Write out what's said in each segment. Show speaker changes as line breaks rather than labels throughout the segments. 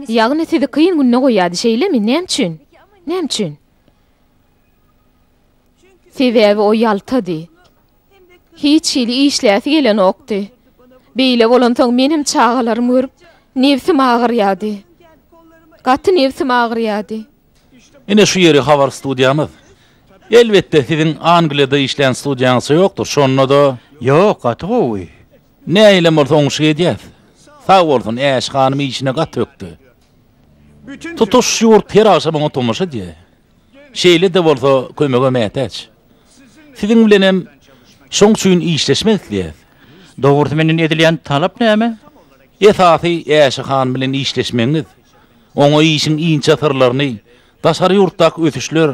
Ýagny sizi kyn günde goýýardy, şeýlemi? Näme üçin? Näme üçin? Sebäbi o ýaltady. Hiç hili işläsi gelenokdy. Beýle bolansoň menem çagalarym görüp, nebsim agyrýardy. Gaty nebsim agyrýardy. Ine şu
ýeri habar studiýamyz. Elbetde siziň Angliýada işlän studiýaňyzça ýokdur, şonda-da. Ýok, gaty gowy.
Nähilem
bolsa oňşuk edýäs. Sag bolsun, Äş hanym işine gaty ökde. Tutuş ýurt her agşam oňa tomaşa edýär. Şeýle-de bolsa, kömege mätäç. Siziň bilenem şoň üçin işleşmek isleýäs. Dogrusy
menden edilýän talap näme? Esasy
Äşe han bilen işleşmegiňiz. Oňa işiň inçe syrlaryny, daşary ýurtdaky ösüşler,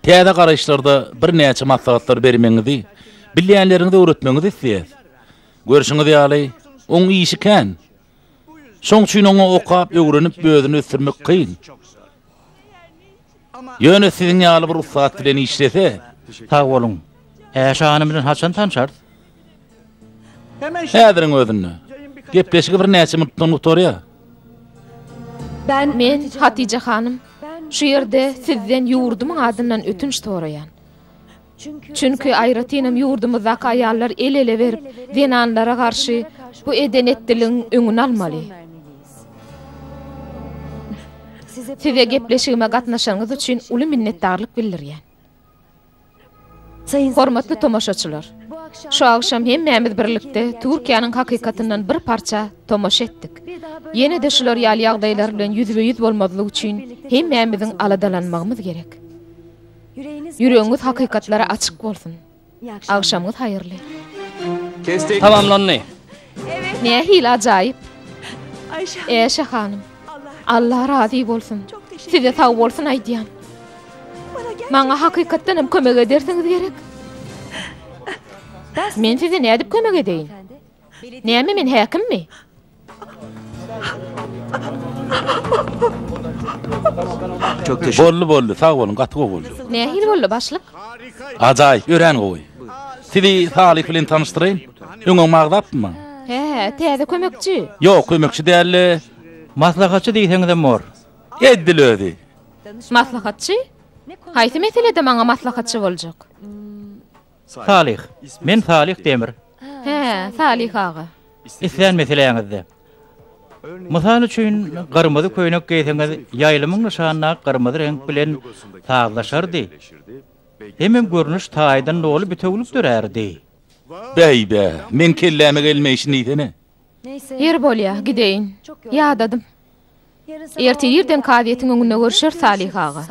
täze garaýyşlarda birnäçe maslahatlar bermegiňizi, bilýänleriňizi öwretmegiňizi isleýäs. Görşüňiz ýaly, oň işi kän. Şoň üçin oňa okap, öwrenip, özüni ösdürmek kyn. Ýöne siziň ýaly bir ussat bilen işlese. Sag boluň.
Äşe hanym bilen haçan tanşarys?
Häziriň özünde. Gepleşigi birnäçe minutdan gutarýar.
Men, Hatije hanym, şu ýerde sizden ýurdumyň adyndan ötünç soraýan. Çünki aýratynam ýurdumyzdaky aýallar el-ele berip, zenanlara garşy bu eden-etdiligiň öňüni almaly. Size gepleşigime gatnaşanyňyz üçin uly minnetdarlyk bildirýän. Hormatly tomaşaçylar! Şu agşam hemmämiz birlikde Türkiýäniň hakykatyndan bir parça tomaşa etdik. Ýene-de şular ýaly ýagdaýlar bilen ýüzbe-ýüz bolmazlyk üçin hemmämiziň aladalanmagymyz gerek. Ýüregiňiz hakykatlara açyk bolsun. Agşamyňyz haýyrly. Kestik
tamamlandy.
Nähili ajaýyp. Äşe hanym. Allah razy bolsun. Size sagbolsun aýdýan. Maňa hakykatdan hem kömek edersiňiz gerek. Men size nädip kömek edeýin? Näme men häkimmi?
Çok teşekkür. Boldy boldy sag boluň gaty gowy
boldy. Nähili boldy başlyk?
Ajaýyp
örän gowy. Sizi Salih bilen tanyşdyraýyn. Öňem magzapmy? He he täze
kömekçi. Ýok kömekçi
däldi. Maslahatçy
diýseňizem bor. Edil özi.
Maslahatçy?
Haýsy meselede maňa maslahatçy boljak?
Salyh. Men Salyh Demir. Hä,
Salyh aga. Islän
meseläňizde. Mysal üçin, gyrmyzy köýnek geýseňiz, ýaýlymyň nyşanyna gyrmyzy reňk bilen sazlaşardy. Hemem görnüş taýdan doly bitewülik dörärdi. Bäý-bä,
meň kelläme gelme işin diýsene. Ýeri
bolýa, gideýin. Ýadadym. Erte irden kazyýetiň öňünde görüşeris, Salyh aga.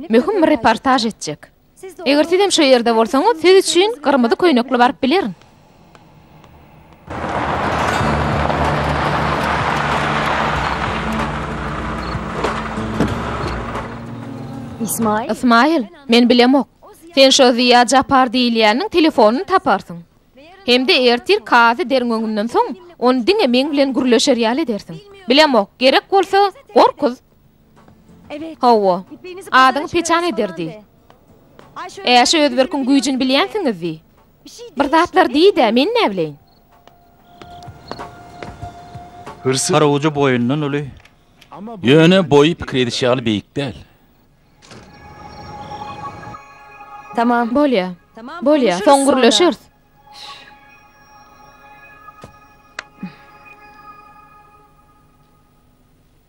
Möhüm bir reportaž etjek. Eger sizem şu ýerde bolsaňyz, siz üçin gyrmyzy köýnekli baryp bilerin. Ysmaýyl, men bilemok. Sen şo Ziýa Japar diýilýäniň telefonyny taparsyň. Hem-de ertir kazy deriň öňünden soň, ony diňe meň bilen gürleşer ýaly edersiň. Bilemok, gerek bolsa, gorkuz, Hawa. Adyňy peçan ederdi. Äşe Özberkiň güýjüni bilýänsiňiz diý. Bir zatlar diý-dä, men näbileýin.
Garawujy boýundan uly. Ýöne
boýy pikir ediş ýaly beýik däl.
Bolýar. Bolýar. Soň gürleşeris.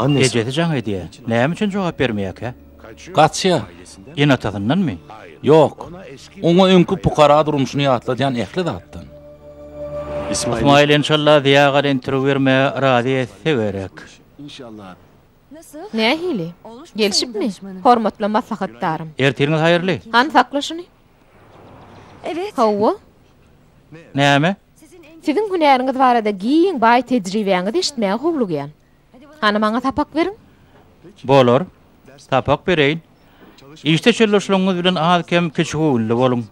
Ejesi jaň edýär. Näme üçin jogap bermeýärkä? Gaçýar.
Eneatasyndanmy?
Ýok.
Oňa öňki pukara durmuşyny ýatladýan ähli zatdan.
Ysmaýyl enşalla Zyýagal interwýu bermäge razy etse gerek.
Nähili? Gelşipmi, hormatly maslahatdarym? Ertiriňiz haýyrly.
Hany sakla şuny.
Hawa.
Näme? Siziň
hünäriňiz barada giň baý tejribäňizi eşitmäge howlugýan. Hany maňa sapak beriň. Bolar.
Sapak bereýin. Işde çölleşligiňiz bilen az-kem kiçigöwünli boluň.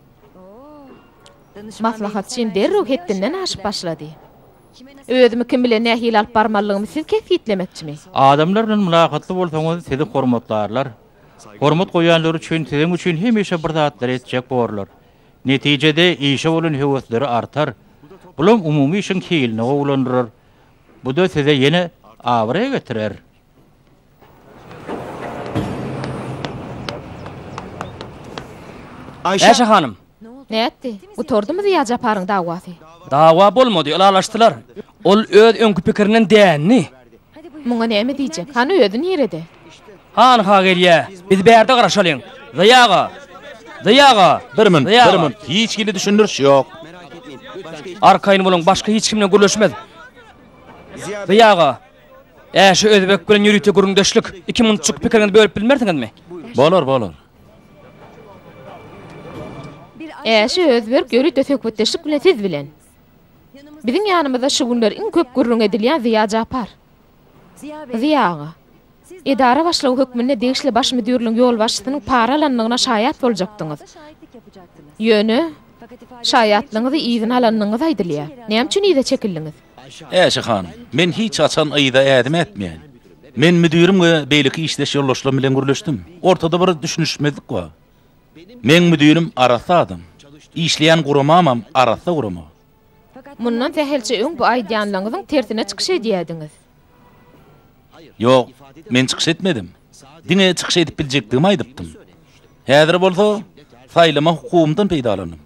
Maslahatçym derrew hetdinden aşyp başlady. Özümi kim bilen nähili alyp barmalydygymy siz kesgitlemekçimi? Adamlar bilen
mylakatly bolsaňyz sizi hormatlarlar. Hormat goýanlar üçin siziň üçin hemişe bir zatlar etjek borlar. Netijede, işe bolan höwesleri artar. Bulam umumy işiň hilini gowulandyrar. Bu-da size ýene abraý getirer.
Aýşe hanym! Nätdi?
Gutardymy Zyýajaparyň dawasy? Dawa bolmady,
ylalaşdylar. Ol öz öňki pikirinden dändi. Muňa
näme diýjek? Hany özi nirede? Hany-ha
gelýä. Biz bärde garaşalyň. Zeý aga! Zeý aga! Bir mün, bir mün.
Hiç hili düşündiriş ýok.
Arkaýyn boluň, başga hiç kim bilen gürleşmez. Zeý aga! Ä şu özbek bilen ýörite gürrüňdeşlik. Iki munçuk pikiriňizi bölüp bilmersiňizmi? Bolar, bolar.
Ä şu özberk ýörite söhbetdeşlik bilen siz bilen. Biziň ýanymyzda şu günler iň köp gürrüň edilýän Zyýa Japar. Zyýa aga. Edara başlygy hökmünde degişli baş müdirligiň ýolbaşçysynyň para alandygyna şaýat boljakdyňyz. Ýöne, şaýatlygyňyzy yzyna alandygyňyz aýdylýar. Näme üçin yza çekildiňiz? Äşe han,
men hiç haçan yza ädim ätmeýän. Men müdirim we beýleki işdeş ýoldaşlarym bilen gürleşdim. Ortada bir düşünişmezlik bar. Meň müdirim arassa adam. Işleýän guramamam arassa gurama. Mundan
sähelçe öň bu aýdýanlaňyzyň tersine çykyş edýädiňiz.
Ýok, men çykyş etmedim. Diňe çykyş edip biljekdigimi aýdypdym. Häzir bolsa saýlama hukugymdan peýdalandym.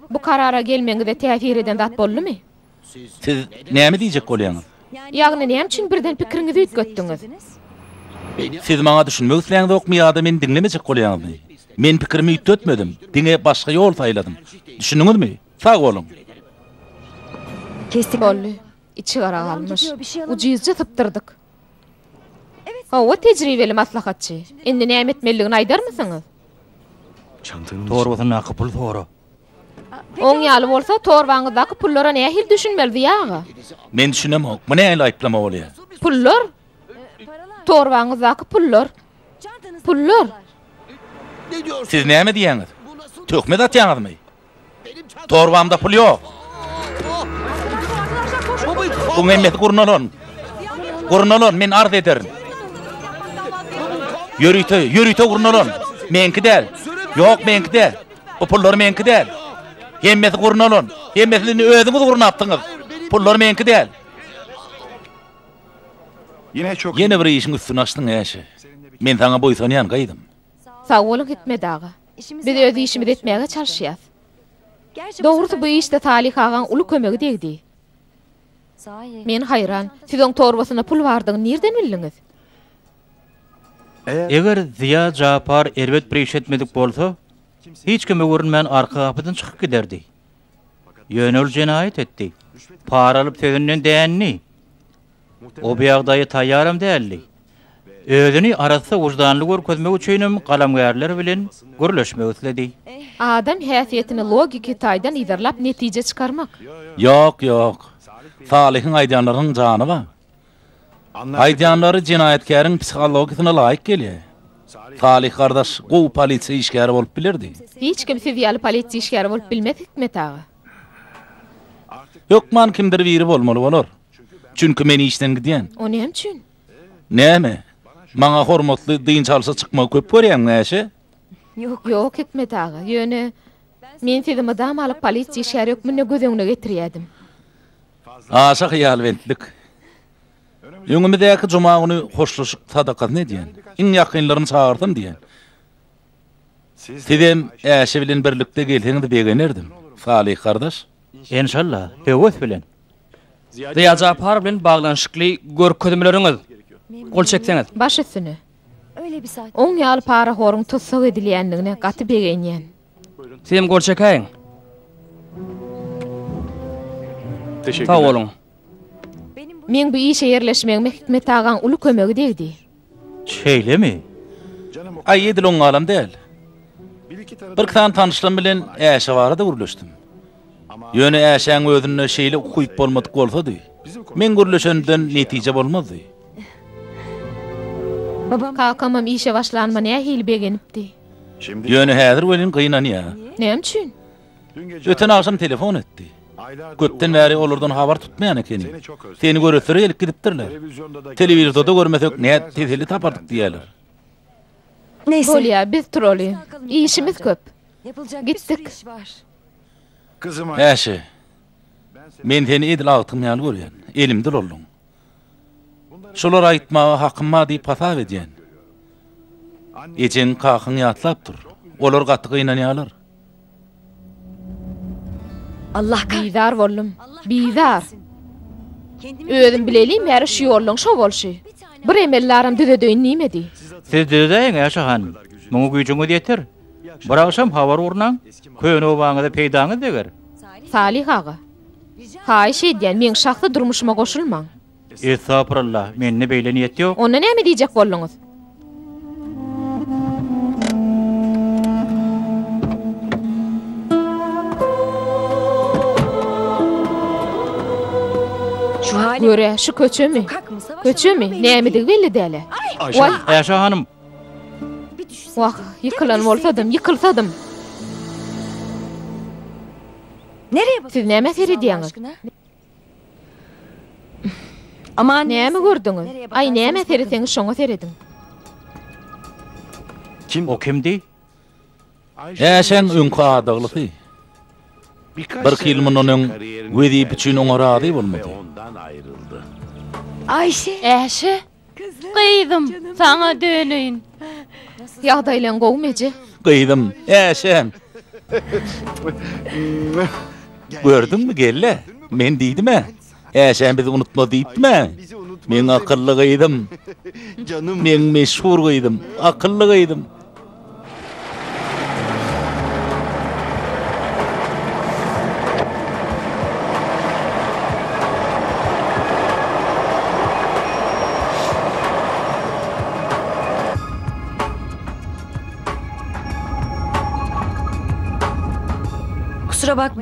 Bu karara
gelmegiňize täsir eden zat boldumy? Siz
näme diýjek bolýaňyz? Ýagny näme üçin
birden pikiriňizi üýtgetdiňiz?
Siz maňa düşünmek isleýäňzokmy ýa-da meni diňlemejek bolýaňyzmy? Men pikirimi üýtgetmedim, diňe başga ýol saýladym. Düşündiňizmi? Sag boluň!
Boldy. Içi gara galmyş. Ujyzja sypdyrdyk. Hawa, tejribeli maslahatçy. Indi näme etmelidigini aýdarmysyňyz? Torbasyndaky
puly sora. Oň
ýaly bolsa, torbaňyzdaky pullara nähili düşünmeli, Ziýa aga? Men düşünemok.
Bu nähili aýyplama bolýar? Pullar?
Torbaňyzdaky pullar. Pullar?
Siz näme diýýäňiz? Töhmet atýaňyzmy? Torbamda pul ýok. Buň hemmesi gurnalan. Gurnalan, men arz ederin. Ýörite, ýörite gurnalan. Meňki däl. Ýok, meňki däl. Bu pullar meňki däl. Hemmesi gurnalan. Hemmesini özüňiz gurnapdyňyz. Pullar meňki däl. Ýene bir işiň üstüni açdyň, Äşe. Men saňa buýsanýan, gyzym. Sag boluň,
Hikmet aga. Biz öz işimizi etmäge çalyşýas. Dogrusy, bu işde Salyh agaň uly kömegi degdi. Men haýran, siz oň torbasyna pul bardygyny nirden bildiňiz?
Eger Zyýa Japar erbet bir iş etmedik bolsa, hiç kime görünmän arka gapydan çykyp giderdi. Ýöne ol jenaýat etdi. Para alyp sözünden dändi. O bu ýagdaýa taýýaram däldi. Özüni arassa wyždanly görkezmek üçinem galamgärler bilen gürleşmek isledi. Adam
häsiýetini logiki taýdan yzarlap netije çykarmak. Ýok, ýok.
Salyhyň aýdýanlarynyň jany bar. Aýdýanlary jenaýatkäriň psihologiýasyna laýyk gelýär. Salyh gardaş gowy polisiýa işgäri bolup bilerdi. Hiç kim siz ýaly
polisiýa işgäri bolup bilmez Hikmet aga.
Hökman kimdir biri bolmaly bolar. Çünki men işden gidýän. O näme üçin?
Näme?
Maňa hormatly dynç alşa çykmagy köp görýäňmi Äşe? Ýok
Hikmet aga. Ýöne men sizi mydama alyp polisiýa işgäri hökmünde göz öňüne getirýädim.
Aşa hyýalbentlik. Öňümizdäki juma güni hoşlaşyk sadakasyny edýän. Iň ýakynlarymy çagyrsam diýýän. Sizem Äşe bilen birlikde gelseňiz begenerdim, Salyh gardaş. Enşalla,
höwes bilen. Zyýa
Japar bilen baglanyşykly görkezmeleriňiz, gol çekseňiz. Baş üstüne.
Oň ýaly parahoryň tussag edilýändigine gaty begenýän. Sizem gol
çekäýiň. Teşekkürler. Sag boluň.
Meň bu işe ýerleşmegime Hikmet agaň uly kömegi degdi. Şeýlemi?
Aý edil oňňalam däl. Birki sany tanyşlarym bilen Äşe barada gürleşdim. Ýöne Äşäň özünde şeýle ukyp bolmadyk bolsady, meň gürleşenimden netije bolmazdy.
Kakamam işe başlanyma nähili begenipdi.
Ýöne häzir
welin
gynanýar.
Näme üçin?
Öten agşam telefon etdi. Köpden bäri olardan habar tutmaýan ekeni. Seni göresleri gelip gidipdirler. Telewizoda görmesek nädip teselli tapardyk diýýärler.
Bolýar, biz
turaly. Işimiz köp. Gitdik.
Äşe.
Men seni edil agtygyň ýaly görýän. Elimde ulalyň. Şolary aýtmaga hakym bar diýip hasap edýän. Ejeň, kakaň ýatlap dur. Olar gaty gynanýarlar.
Bizar boldum.
Bizar.
Özüm bileliň
bäri şu ýollaň şo bolşy. Bir emeldaram düzedeýin diýmedi. Siz düzedäýiň-ä
şo hanym. Muňa güýjüňiz ýeter. Bir agşam habar urnaň. Köne obaňyza peýdaňyz deger. Salyh aga.
Haýyş edýän meň şahsy durmuşyma goşulmaň. Estagfurullah
mende beýle niýet ýok. Onda näme diýjek bolduňyz?
Görä şu köçemi?
Köçemi?
Nämedigi belli däle.
Waý! Äşe hanym!
Wah, ýykylan
bolsadym, ýykylsadym.
Siz näme seredýäňiz? Näme gördüňiz?
Aý, näme sereseňiz, şoňa serediň.
O kimdi?
Äşäň öňki adaglysy. Birki ýyl mundan öň wezipe üçin oňa razy bolmady.
Äşe?
Gyzym,
saňa döneýin.
Ýagdaýlaň gowumy, eje? Gyzym,
äşäm. Gördüňmi, gelne? Men diýdim-ä, äşäm bizi unutma diýipdim-ä. Meň akylly gyzym.
Meň meşhur
gyzym, akylly gyzym.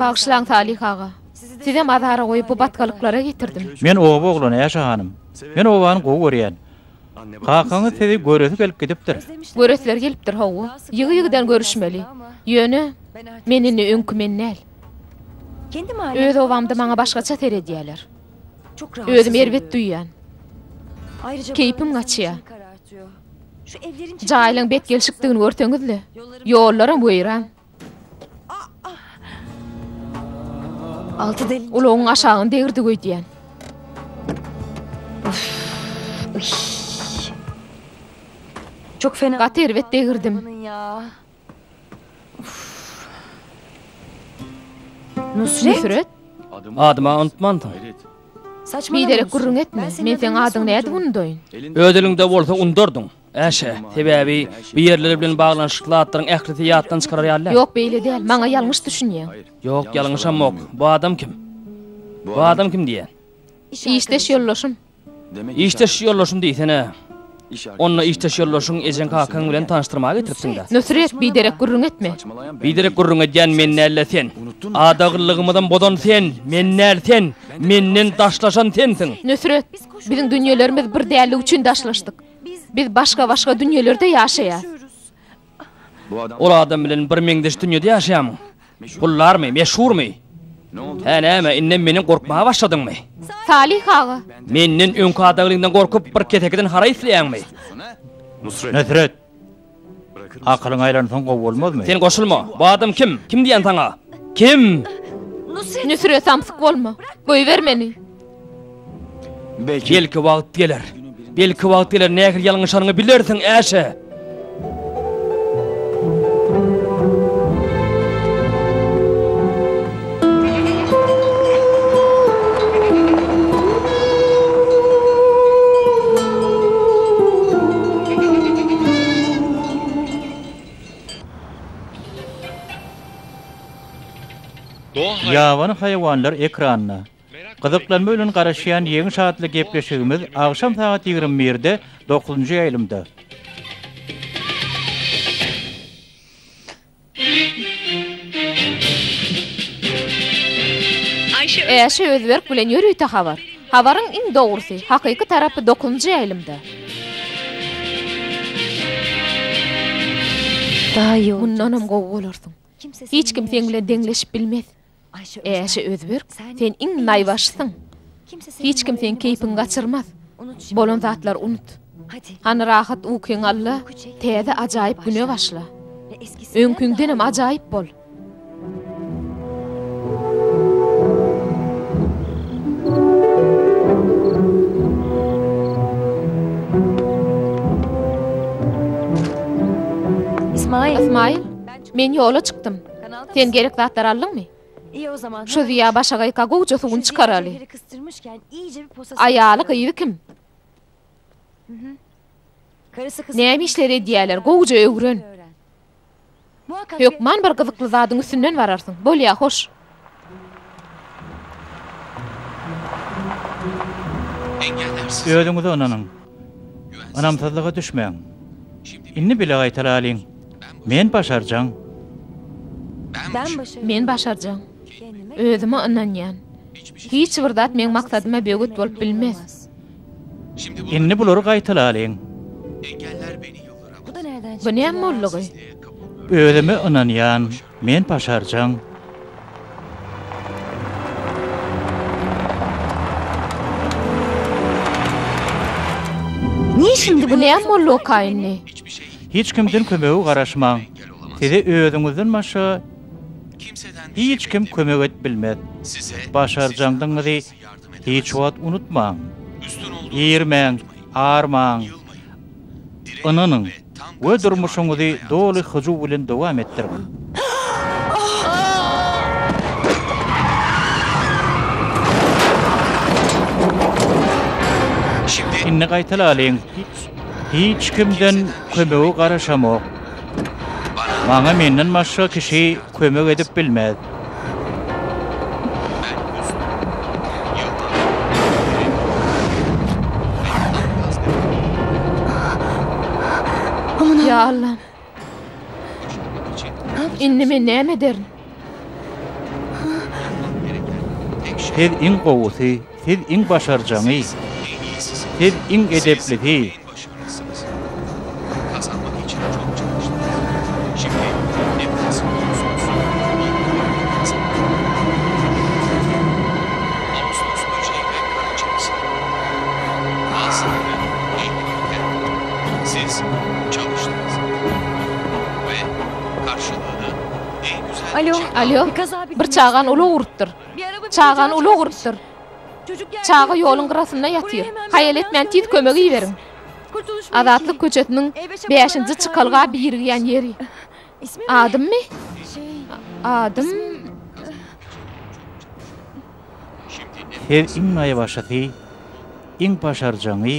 Bagyşlaň, Salyh aga.
Sizem azara goýup bu batgalyklara getirdim. Men oba oglany,
Äşe hanym. Men obany gowy görýän. Kakaňyz sizi göresi gelip gidipdir. Göresleri gelipdir,
hawa. Ýygy-ýygydan görüşmeli. Ýöne, men indi öňki men däl.
Öz obamda
maňa başgaça seredýärler.
Özümi erbet duýýan. Keýpim gaçýar. Jaýlaryň bet gelşikdigini
görseňiz-le. Ýollaram weýran.
Ulagyň aşagyny degirdik
öýdýän.
Gaty erbet degirdim. Nusret?
Adymy-a
unutmansyň.
Biderek gürrüň etme.
Men seň adyňy
nädip
unudaýyn? Öz eliňde bolsa
undardyň. Äşe, sebäbi bu ýerler bilen baglanyşykly zatlaryň ählisi ýatdan çykarar ýaly-a. Ýok, beýle däl, maňa
ýalňyş düşünýäň. Ýok, ýalňyşamok.
Bu adam kim? Bu adam kim diýýän? Işdeş
ýoldaşym. Işdeş
ýoldaşym diýsene. Onda işdeş ýoldaşyň ejeň-kakaň bilen tanyşdyrmaga getiripsiň-dä. Nusret, biderek gürrüň
etme. Biderek gürrüň
edýän men däl-le sen. Adaglylygymyzam bozan sen, men däl, sen. Menden daşlaşan sensiň. Nusret, biziň
dünýelerimiz bir däldigi üçin daşlaşdyk. Biz başga-başga dünýelerde ýaşaýas.
Ol adam bilen bir meňzeş dünýede ýaşaýarmyň? Puldarmy, meşhurmy? Hä, näme, indem menden gorkmaga başladyňmy? Salyh aga!
Menden öňki
adaglyňdan gorkup, bir kesekeden haraý isleýäňmi?
Nusret! Akylyň aýlansoň gowy bolmazmy? Sen goşulma! Bu adam
kim? Kim diýýän saňa? Kim?
Nusret, samsyk bolma! Goýber meni! Belki
wagt geler. Belki wagt geler, nähili ýalňyşanyňy bilersiň, Äşe!
Ýabany haýwanlar ekranyna gyzyklanma bilen garaşýan Ýeňiş atly gepleşigimiz agşam sagat ýigrimi birde dokuzynjy ýaýlymda.
Äşe Özberk bilen ýörite habar. Habaryň iň dogrusy, hakyky tarapy dokuzynjy ýaýlymda. Mundanam
gowy bolarsyň. Hiç kim seň bilen
deňleşip bilmez. Äşe
Özberk,
sen
iň naýbaşysyň.
Hiç
kim seň keýpiňi
gaçyrmaz. Bolan
zatlary unut.
Hany
rahat
ukyňy al-da, täze ajaýyp güne başla.
Öňküňdenem ajaýyp
bol. Ysmaýyl, men ýola çykdym. Sen gerek
zatlary aldyňmy? Şu zyýa başagaýka
gowja suwuny çykaraly.
Aýaly, gyzy kim? Näme işler edýärler,
gowja öwren.
Hökman bir gyzykly
zadyň üstünden bararsyň. Bolýa, hoş.
Özüňize ynanyň. Ynamsyzlyga düşmäň. Indi bile gaýtalalyň. Men başarjaň.
Men başarjaň.
Özüme
ynanýan.
Hiç bir zat meň maksadyma böwet bolup bilmez.
Indi bulary gaýtalalyň.
Bu näme boldugy?
Özüme
ynanýan. Men başarjaň.
Niye şimdi bu näm bollyokay
indi. Hiç kimden
kömege garaşmaň. Size özüňizden başga hiç kim kömek edip bilmez. Başarjaňdygyňyzy Hiç wagt unutmaň, irmäň, armaň, ynanyň we durmuşyňyzy doly hyjuw bilen dowam etdiriň! Indi gaýtalalyň. Hiç kimden kömege garaşamok. Maňa menden başga kişi kömek edip bilmez.
Ýa Allam! Indi men näme ederin?
Siz iň gowusy, siz iň başarjaňy, siz iň edeplisi.
Alo, alo, bir
çagany
ulag urupdyr.
Çagany
ulag urupdyr.
Çaga
ýoluň gyrasynda
ýatyr. Haýal etmän tiz
kömek
iberiň.
Azatlyk köçesiniň bäşinji çykalga
birigýän ýeri.
Adymmy? Adym...
Siz iň naýbaşysy, iň başarjaňy,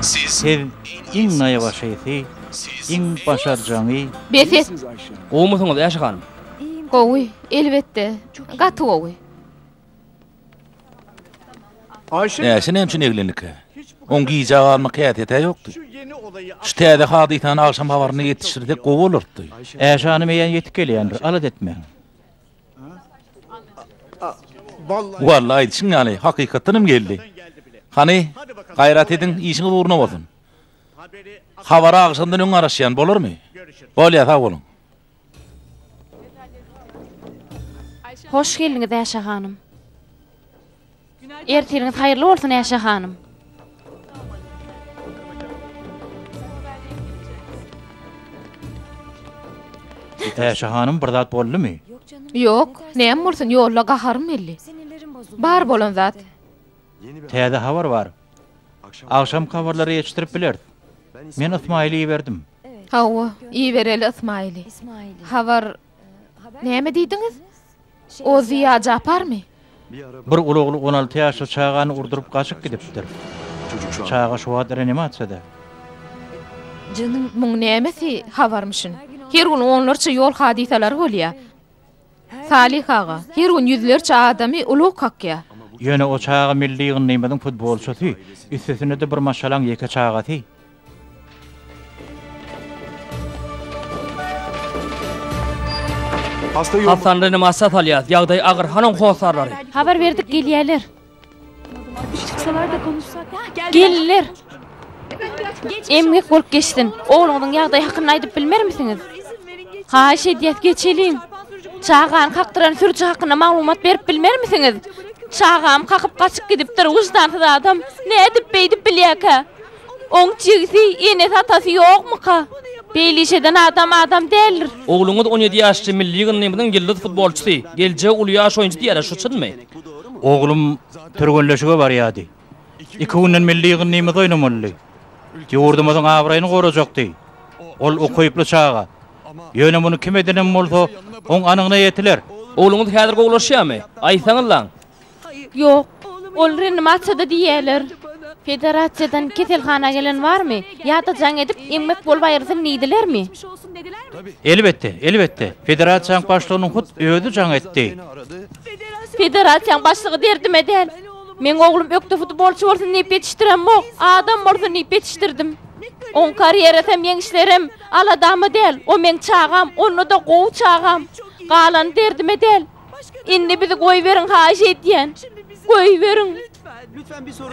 Siz iň
naýbaşysy, iň başarjaňy. Bes et!
Gowumysyňyz,
Äşe hanym? Gowy,
elbetde,
gaty gowy.
Äşe näme üçin eglendikä? Oň gijä galmak häsiýet-ä ýokdy. Şu täze hadysany agşam habaryna ýetişdirsek gowy bolardy. Äşe hanym eýýäm
ýetip gelýändir, alada etmäň.
Walla, aýdyşyň ýaly, hakykatdan hem geldi. Hany, gaýrat ediň, işiňiz ugruna bolsun. Habary agşamdan öň garaşýan, bolarmy? Bolýar, sag boluň.
Hoş geldiňiz Äşe hanym. Ertiriňiz haýyrly bolsun Äşe hanym.
Äşe hanym bir zat boldumy? Ýok,
näme bolsun
ýolda gaharym belli. Bar
bolan zat.
Täze
habar bar. Agşamky habarlary eşitdirip bileris. Men Ysmaýyly iberdim. Hawa,
ibereli Ysmaýyly. Habar, näme
diýdiňiz?
O
Zyýa Japarmy?
Bir uly
ogly on alty ýaşly çagany urduryp gaçyp gidipdir. Çaga şu wagt reanimasiýada.
Muň nämesi
habarmyşyn? Her gün onlarça ýol hadysalary bolýar. Salih aga, her gün ýüzlerçe adamy ulag kakýa. Ýöne o çaga
milli ýygyndymyzyň futbolçysy, üstesine-de bir maşgalaň ýeke çagasy.
Hasan Rynymasa salýas, ýagdaý agyr, hanoň hossarlary. Habar berdik
gelýäler.
Gelinler!
Emgek bolup geçsin. Ogluňyzyň ýagdaýy hakynda aýdyp bilmermisiňiz? Haýyş edýäs, geçeliň. Çagany kakdyran sürüji hakynda maglumat berip bilmermisiňiz? Çagamy kakyp gaçyp gidipdir, wyždansyz adam. Nädip beýdip bilýärkä? Oň jigisi, enesi, atasy ýokmyka? Beýle iş eden adam adam däldir. Ogluňyz on ýedi
ýaşly milli ýygyndymyzyň ýyldyz futbolçysy, geljegi uly ýaş oýunçy diýýärler, şu çynmy? Oglum
türgenleşige barýardy. Iki günden milli ýygyndymyz oýnamalydy. Ýurdumyzyň abraýyny gorajakdy. Ol ukyply çaga. Ýöne muny kim edenem bolsa, oň anygyna ýetiler. Ogluňyz häzir
gowulaşýarmy? Aýtsaňyzlaň. Ýok.
Ol reanimasiýada diýýärler. Federasiýadan keselhana gelen barmy? Ýa-da jaň edip, eňmek bolup aýrylsyn diýdilermi? Elbetde,
elbetde. Federasiýanyň başlygynyň hut özi jaň etdi.
Federasiýaň başlygy derdime däl. Meň oglum ökde futbolçy bolsun diýip ýetişdiremok, adam bolsun diýip ýetişdirdim. Oň karýerasy hem, ýeňişleri hem aladama däl. O meň çagam, onda-da gowy çagam. Galany derdime däl. Indi bizi goýberiň haýyş edýän. Goýberiň.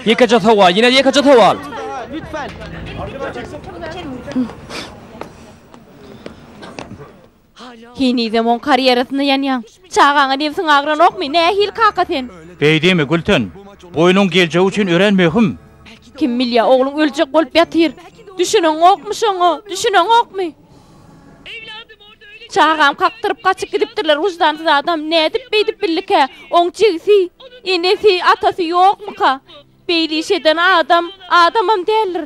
Ýekeje sowal, ýene ýekeje sowal.
Henizem oň karýerasynda ýanýaň. Çagaňa nebsiň agranokmy? Nähili kaka sen? Beý diýme, Gülten.
Bu onuň geljegi üçin örän möhüm. Kim bilýär,
ogluň öljek bolup ýatyr. Düşüneňokmy şoňa? Düşüneňokmy? Çagam kakdyryp gaçyp gidipdirler, wyždansyz adam. Nädip beýdip bildikä? Oň jigisi, enesi, atasy ýokmyka? Beýle iş eden adam adamam däldir.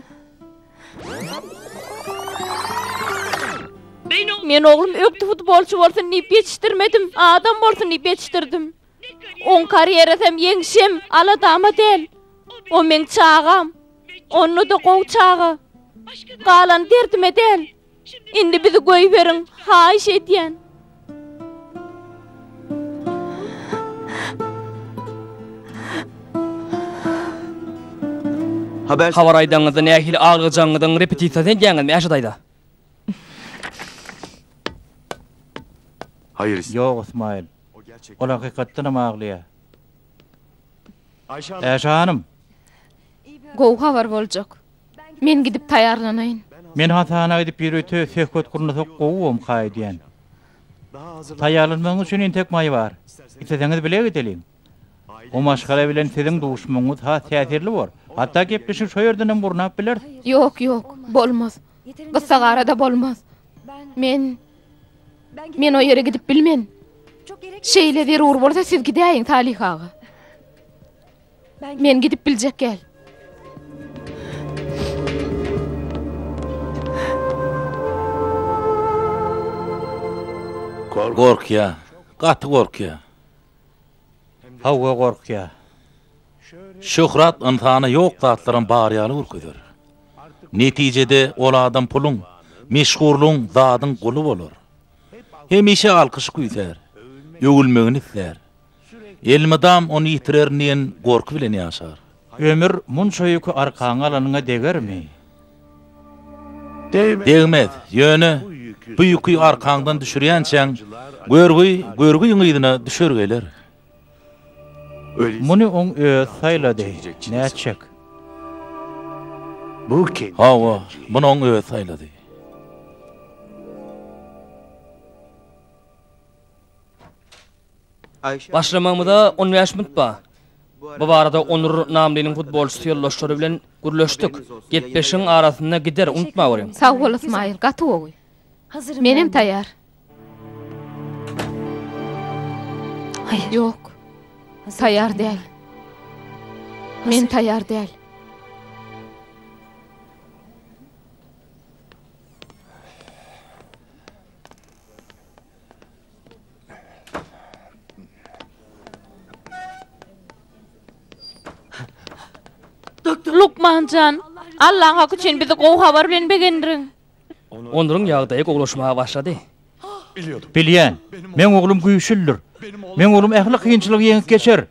Men oglum ökde futbolçy bolsun diýip ýetişdirmedim, adam bolsun diýip ýetişdirdim. Oň karýerasam, ýeňşem aladama däl. O meň çagam. Onda-da gowy çaga. Galany derdime däl. Indi bizi goýberiň, haýyş edýän.
Habar aýdanyňyzda nähili aglajagyňyzyň repetisiýasyny edýäňizmi, Äşe daýza?
Ýok, Ysmaýyl.
Ol hakykatdanam aglaýar. Äşe hanym!
Gowy habar boljak. Men gidip taýýarlanaýyn. Men hasana
gidip ýörite söhbet gurnasak gowy bomka öýdýän. Taýýarlanmagyňyz üçin entek maý bar. Isleseňiz bile gideliň. O maşgala bilen siziň duşmagyňyz has täsirli bor. Hatda gepleşigi şo ýerdenem gurnap bileris. Ýok, ýok,
bolmaz. Gyssagarada bolmaz. Men Men o ýere gidip bilmen. Şeýle zerur bolsa siz gidäýiň Talyh aga. Men gidip biljek gel.
Gorkýa, gaty gorkýa.
Hawa gorkýa.
Şöhrat ynsana ýok zatlaram bar ýaly görkezer. Netijede ol adam puluň, meşhurlygyň, zadyň guly bolar. Hemişe alkyş küýsär, öwülmegini islär. Elmydam ony ýitirerin diýen gorky bilen ýaşar. Ömür munça
ýüki arkaňa alanyňa degermi?
Degmez. Ýöne bu ýüki arkaňdan düşürýänçäň, görgi görgüň yzyna düşer geler.
Muny oň özi saýlady. Nätjek?
Hawa, muny oň
özi saýlady.
Başlamagymyza on bäş minut bar. Bu barada Onur Namliniň futbolçysy ýoldaşlary bilen gürleşdik. Gepleşigiň arasynda gider, unutmaweriň. Sag bol, Ysmaýyl, gaty
gowy. Menem
taýýar. Ýok,
taýýar däl. Men taýýar däl.
Lukman jan, Allaň haky üçin bizi gowy habar bilen begendirin.
Onlaryň ýagdaýy gowulaşmaga başlady.
Bilýän. Meň oglum güýçlidir. Meň oglum ähli kynçylygy ýeňip geçer.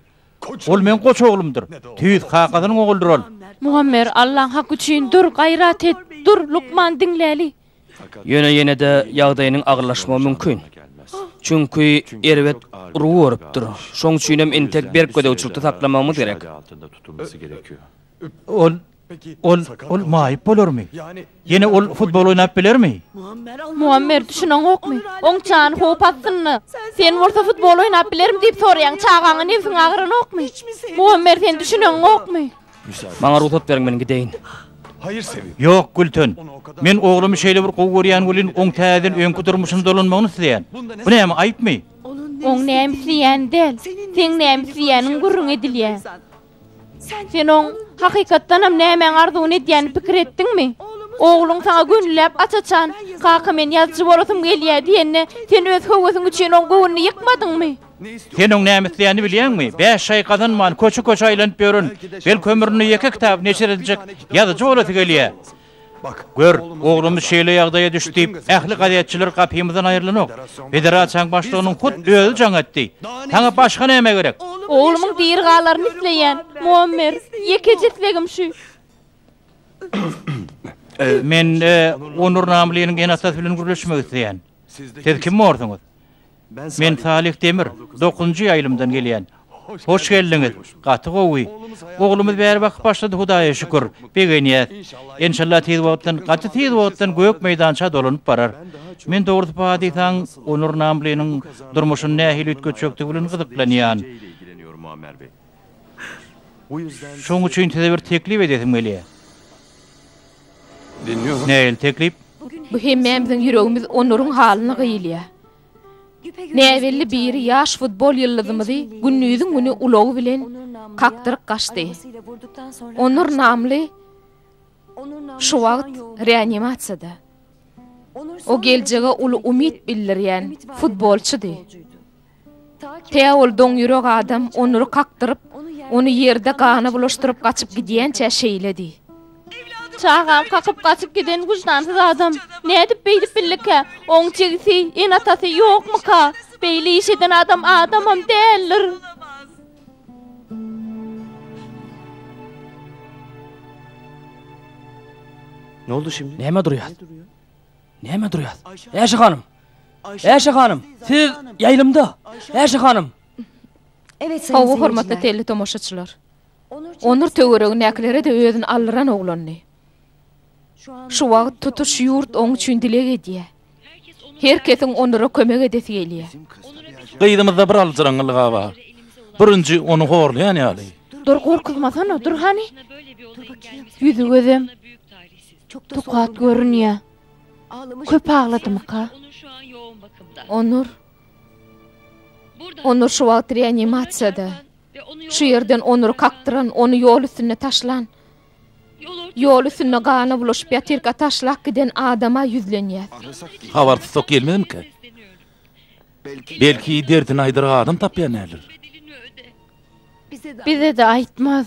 Ol meň goç oglumdyr. Tüýs kakasynyň ogludyr ol. Muammer, Allaň
haky üçin dur, gaýrat et. Dur, lukman, diňläli. Ýöne ýene-de
ýagdaýynyň agyrlaşmagy mümkin. Çünki erbet urgy görüpdir. Şoň üçinem entek berk gözegçilikde saklamagymyz gerek. Ol,
ol, ol maýyp bolarmy? Ýene ol futbol oýnap bilermi? Muammer,
düşüneňokmy? Oň jany howp astynda. Sen bolsa futbol oýnap bilermi diýip soraýaň, çagaňa nebsiň agyranokmy? Muammer, sen düşüneňokmy? Maňa rugsat
beriň men gideýin.
Ýok, Gülten.
Men oglumy şeýle bir gowy görýän welin oň täzeden öňki durmuşyna dolanmagyny isleýän. Bu näme, aýypmy? Oň näme
isleýäni däl, seň näme isleýäniň gürrüň edilýär. Sen oň hakykatdanam nämäň arzuwyny edýänini pikir etdiňmi? Ogluň saňa gönüläp aç-açan, Kaka men ýazyjy bolasym gelýär diýende, sen öz höwesiň üçin oň göwnüni ýykmadyňmy? Sen oň näme
isleýänini bilýäňmi? Bäş aý gazanman, köçe-köçe aýlanyp ýören, belki ömründe ýeke kitaby neşir ediljek ýazyjy bolasy gelýär. Gör, oglumyz şeýle ýagdaýa düşdi diýip, ähli gazetçiler gapymyzdan aýrylanok. Federasiýaň başlygynyň hut özi jaň etdi. Saňa başga näme gerek? Oglumyň diri
galaryny isleýän, Muammer. Ýekeje islegim şu.
Men Onur Namlynyň ene-atasy bilen gürleşmek isleýän. Siz kim borsuňyz? Men Salyh Demir, dokuzynjy ýaýlymdan gelýän. Hoş geldiňiz, gaty gowy. Oglumyz bäri bakyp başlady Hudaýa şükür, begenýäs. Enşalla tiz wagtdan, gaty tiz wagtdan gök meýdança dolanyp barar. Men dogrusy padysaň Onur namlynyň durmuşyny nähili üýtgetjekdigi bilen gyzyklanýan. Şoň üçin size bir teklip edesim gelýär.
Nähili teklip?
Bu hemmämiziň
ýüregimiz onlaryň halyna gyýylýa. Näbelli biri ýaş futbol ýyldyzymyzy gündiziň güni ulagy bilen kakdyryp gaçdy. Onur namly şu wagt reanimasiýada. O geljege uly umyt bildirýän futbolçydy. Tä ol doňýürek adam Onury kakdyryp, ony ýerde gana bulaşdyryp gaçyp gidýänçä şeýledi.
Çagam kakyp gaçyp giden wyždansyz adam nädip beýdip bildikä? Oň jigisi, ene-atasy ýokmyka? Beýle iş eden adam adamam däldir.
Näme durýas?
Näme durýas? Äşe hanym! Äşe hanym! Siz ýaýlymda! Äşe hanym!
Hawa, hormatly teletomaşaçylar.
Onur töweregindäkilere-de özüni aldyran oglandy. Şu wagt tutuş ýurt oň üçin dileg edýär. Her kesiň Onura kömek edesi gelýär. Gyzymyzda
bir aljyraňňylyga bar. Birinji ony horlaýan ýaly. Dur, gorkuzmasana,
dur hany. Ýüzi gözem. Tukat görünýä. Köp agladymyka? Onur.
Onur şu wagt reanimasiýada. Şu ýerden Onury kakdyran, ony ýol üstünde taşlan. Ýol üstünde gana bulaşyp ýatyrka taşlap giden adama ýüzlenýäs. Habar tussag
gelmezmika? Belki derdini aýdar adam tapýan däldir.
Bize-de aýtmaz.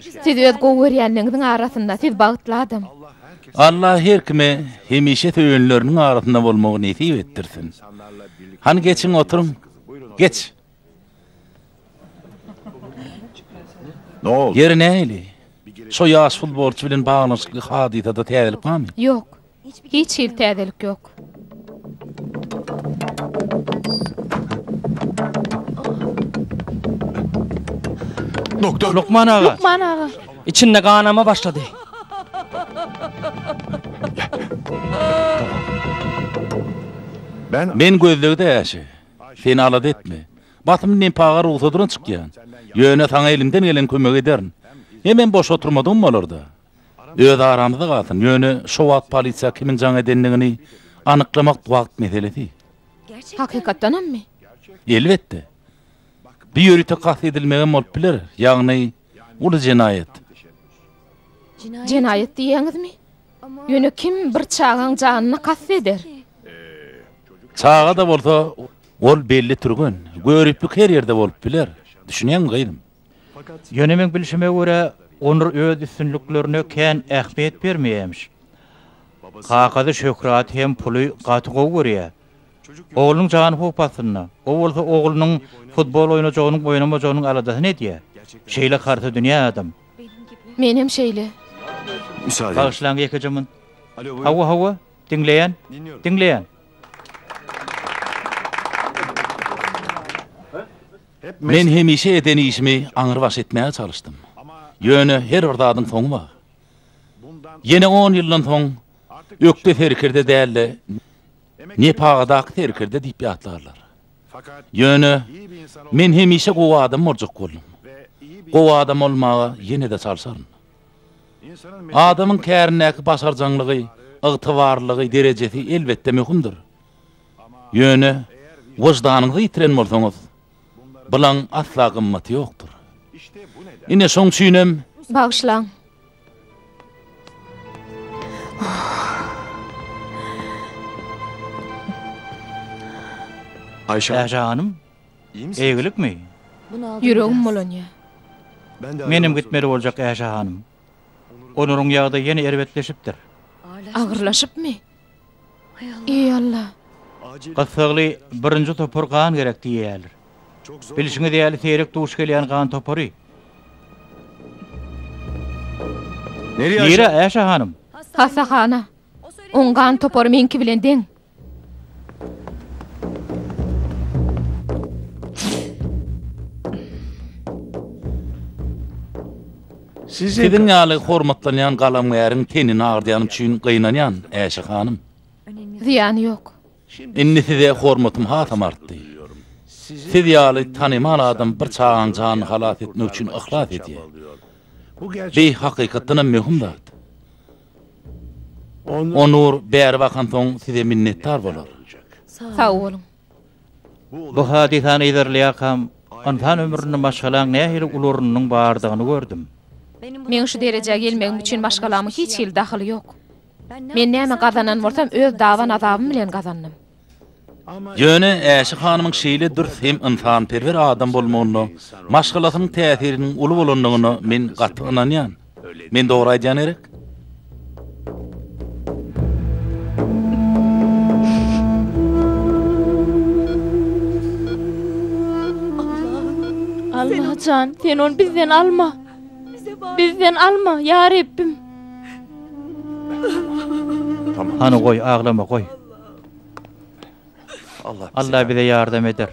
Siz öz gowy görýänleriňiziň arasynda, siz bagtly adam. Allah
her kime hemişe söýenleriniň arasynda bolmagy nesip etdirsin. Hany geçiň oturyň. Geç.
Ýeri nähili?
Şo ýaş futbolçy bilen baglanyşykly hadysada täzelik barmy? Ýok.
Hiç hili täzelik ýok.
Doktor. Lukman aga.
Lukman aga.
İçinde ganama
başlady.
Ben Men gözlegde äşi. Seni alada etme. Basym nempaga rugsadyna çykýan. Ýöne saňa elimden gelen kömegi ederin. Hemem boş oturmadygym bolar-da. Öz aramyzda galsyn, ýöne şo wagt polisiýa kimiň jaň edendigini anyklamak wagt meselesi. Hakykatdanammy? Elbetde. Bu ýörite kast edilmegem bolup biler, ýagny uly jenaýat.
Jenaýat diýýäňizmi? Ýöne kim bir çagaň janyna kast eder?
Çaga-da bolsa, ol belli türgen. Göriplik her ýerde bolup biler. Düşünýäňmi gyzym? Ýöne meň
bilşime görä, Onur öz üstünliklerine kän ähmiýet bermeýämiş. Kakasy şöhraty hem puly gaty gowy görýär. Oglunyň jany howp astynda. O bolsa oglunyň futbol oýnajagynyň, oýnamajagynyň aladasyny edýär. Şeýle harta dünýä adam. Menem
şeýle.
Bagyşlaň ýekeje.
Hawa,
hawa, diňleýän,
diňleýän.
Men hemişe eden işimi aňrybaş etmäge çalyşdym. Ýöne her bir zadyň soňy bar. Ýene on ýyldan soň Ökde serkerde däl-de, Nepagadaky serkerde diýip ýatlarlar. Ýöne men hemişe gowy adam boljak boldum. Gowy adam bolmaga ýene-de çalşaryn. Adamyň kärindäki başarjaňlygy, ygtybarlylygy, derejesi elbetde möhümdir. Ýöne wyždanyňyzy ýitiren bolsaňyz, bulaň asla gymmaty ýokdur. Ine, şoň üçinem. Bagyşlaň.
Aýşe hanym,
eýgilikmi? Ýüregim
bulanýar.
Menem gitmeli boljak,
Aýşe
hanym.
Onuryň ýagdaýy ýene erbetleşipdir. Agyrlaşypmy?
Eý Alla! Gyssagly
birinji topar gan gerek diýýärler. Bilşiňiz
ýaly seýrek duş
gelýän gan topary.
Nirä Äşe
hanym? Hassahana.
Oň gan topary meňki bilen deň.
Siziň ýaly hormatlanýan galamgäriň tenini agyrdaýanym üçin gynanýan, Äşe hanym. Zyýany
ýok. Indi size
hormatym hasam artdy. Siz ýaly tanymal adam bir çagaň janyny halas etmek üçin yhlas edýär. Bi hakykatdanam möhüm zat. Onur bäri bakansoň size minnetdar bolar. Sag boluň.
Bu hadysany yzarlaýarkam, ynsan ömründe maşgalaň nähili uly ornunyň bardygyny gördüm. Meň şu
derejä gelmegim üçin maşgalamyň hiç hili dahyly ýok. Men näme gazanan bolsam, öz daban-azabym bilen gazandym.
Ýöne Äşi hanymyň şeýle dürs hem ynsanperwer adam bolmagynda maşgalasynyň täsiriniň uly bolandygyna men gaty ynanýan. Men dogry aýdýan gerek?
Allajan, sen ony bizden alma. Bizden alma, ýa Rebbim.
Hany goý, aglama, goý. Allah bize ýardam eder.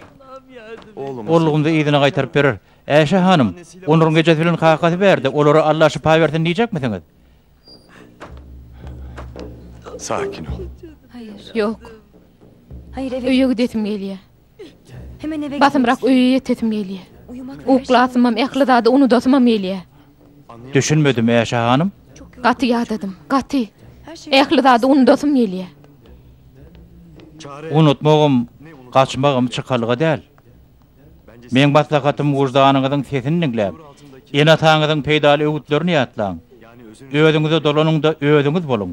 Oglumyzy yzyna
gaýtaryp berer. Äşe hanym, Onuryň ejesi bilen kakasy bärde, olara Alla şypa bersin diýjekmisiňiz?
Sakin ol. Ýok.
Öýe gidesim
gelýär.
Basymrak öýe ýetesim
gelýär. Uklasymam,
ähli
zady unudasymam gelýär. Düşünmedim,
Äşe hanym? Gaty ýadadym,
gaty. Ähli
zady unudasym
gelýär.
Unutmagam,
gaçmagam çykalga däl. Meň maslahatym wyždanyňyzyň sesini diňläp, ene-ataňyzyň peýdaly öwütlerini ýatlaň. Özüňize dolanyňda özüňiz boluň.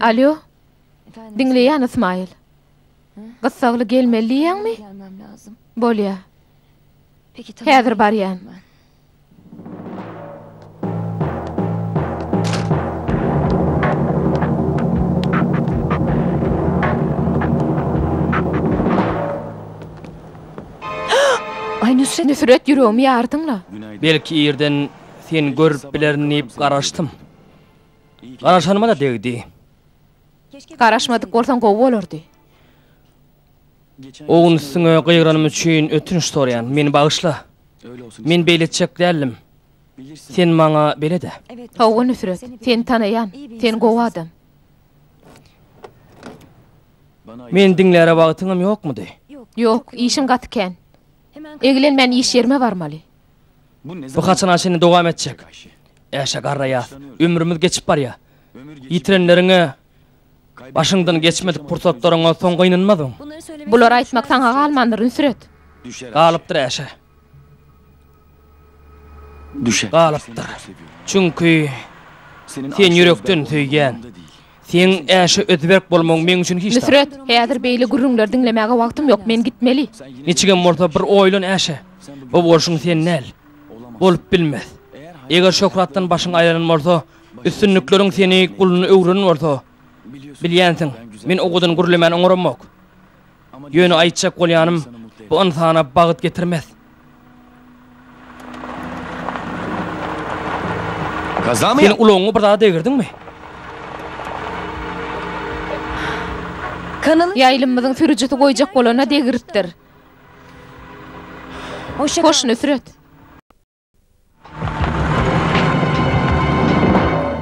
Alýo. Diňleýän Ysmaýyl. Gyssagly gelmeli diýýäňmi?
Bolýa. Häzir barýan. Aý, Nusret! Nusret, ýüregimi ýardyň-la!
Belki irden
seni görüp bilerin diýip garaşdym. Garaşanyma-da degdi.
Garaşmadyk bolsaň gowy bolardy.
O gün üstüňe gygyranym üçin ötünç soraýan. Meni bagyşla. Men beýle etjek däldim. Sen maňa belet-ä. Hawa, Nusret.
Seni tanaýan. Sen gowy adam.
Meni diňläre wagtyňam ýokmudy? Ýok, işiň
gaty kän. Egilen men iş ýerime barmaly. Bu
haçana çenli dowam etjek? Äşe garraýas, ömrümiz geçip barýa. Ýitirenleriňe başyňdan geçmedik pursatlaryňa soň gynanmadyň. Bulary aýtmak
saňa galmandyr, Nusret. Galypdyr
Äşe.
düşäp galypdyr.
Çünki Seni ýürekden söýýän. Seň äşe özberk bolmagyň meň üçin hiç zat. Nusret, häzir beýle
gürrüňleri diňlemäge wagtym ýok, men gitmeli. Niçigem bolsa bir
oýlan äşe. Bu bolşuň sen däl. Bolup bilmez. Eger şöhratdan başyň aýranan bolsa, üstünlikleriň seni guluna öwrenen bolsa, bilýänsiň, men owadan gürlemän oňaramok. Ýöne aýtjak bolýanym, bu ynsana bagt getirmez.
Sen ulagyňy bir zada
degirdiňmi?
Ýaýlymymyzyň sürüjisi
goýjak bolana degiripdir. Hoş, Nusret.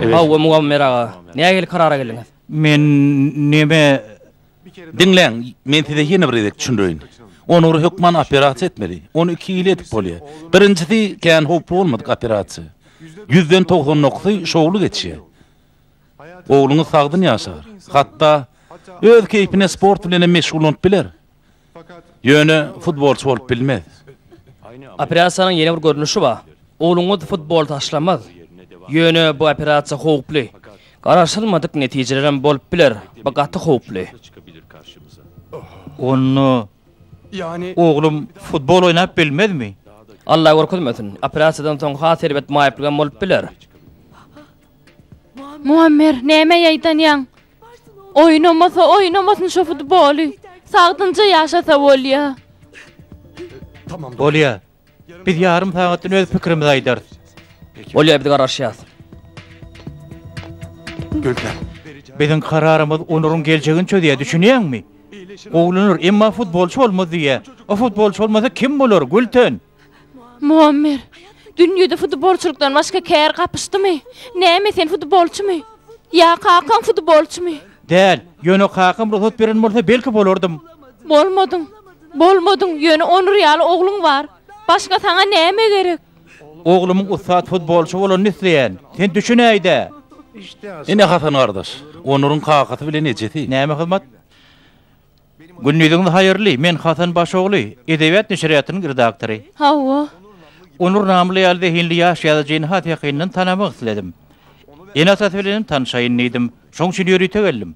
Hawa, Muammer aga,
nähili karara geldiňiz? Men
näme
Diňläň, men size ýene bir gezek düşündireýin. Onur hökman operasiýa etmeli. Ony iki hili edip bolýar. Birinjisi kän howply bolmadyk operasiýa. Ýüzden togsan dokuzysy şowly geçýär. Ogluňyz sagdyn ýaşar. Hatda öz keýpine sport bilen hem meşgullanyp biler. Ýöne futbolçy bolup bilmez.
Operasiýanyň ýene bir görnüşi bar. Ogluňyz futboly taşlamaz. Ýöne bu operasiýa howply. Garaşylmadyk netijelerem bolup biler, bu gaty howply.
Onda
oglum futbol
oýnap bilmezmi? Alla görkezmesin.
Operasiýadan soň has erbet maýyplyk hem bolup biler.
Muammer, näme ýaýdanýaň? Oýnamasa oýnamasyn şo futboly. Sagdynja ýaşasa bolýa.
Bolýa. Biz ýarym sagatdan öz pikirimizi aýdarys. Bolýa biz
garaşýas.
Biziň
kararymyz onuryň geljegini çözýä düşünýäňmi? Gowlanar emma futbolçy bolmaz diýýä. O futbolçy bolmasa kim bolar Gülten? Muammer,
dünýede futbolçylykdan başga kär gapyşdymy? Näme, sen futbolçymy? Ýa kakaň futbolçymy? Däl, ýöne
kakam rugsat beren bolsa, belki bolardym. Bolmadyň, bolmadyň,
ýöne Onur ýaly ogluň bar. Başga saňa näme gerek? Oglumyň
ussat futbolçy bolanyny isleýän. Sen düşünäý-dä!
Ine Hasan gardaş, Onuryň kakasy bilen ejesi. Näme hyzmat?
Gündiziňiz haýyrly, men Hasan Başogly, Edebiýat neşirýatynyň redaktory. Hawa.
Onur
namly ýaly zehinli ýaş ýazyjyny has ýakyndan tanamak isledim. Ene-atasy bilenem tanşaýyn diýdim. Şoň üçin ýörite geldim.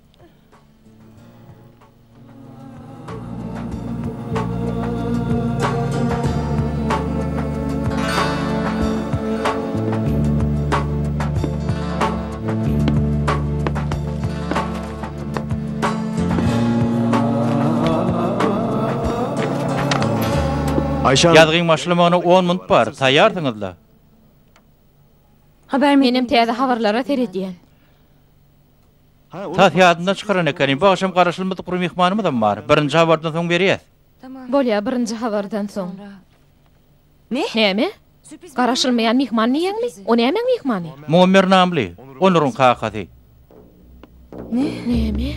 Ýazgyň başlamagyna
on minut bar, taýýarsyňyzda?
Menem täze habarlara
seredýän.
Tas ýadymdan çykaran ekenim, bu agşam garaşylmadyk bir myhmanymyzam bar. Birinji habardan soň berýäs. Bolýar,
birinji
habardan soň.
Ne? Näme?
Garaşylmaýan myhman diýýäňmi? O nämäň myhmany? Muammer namly.
Onuryň kakasy.
Näme?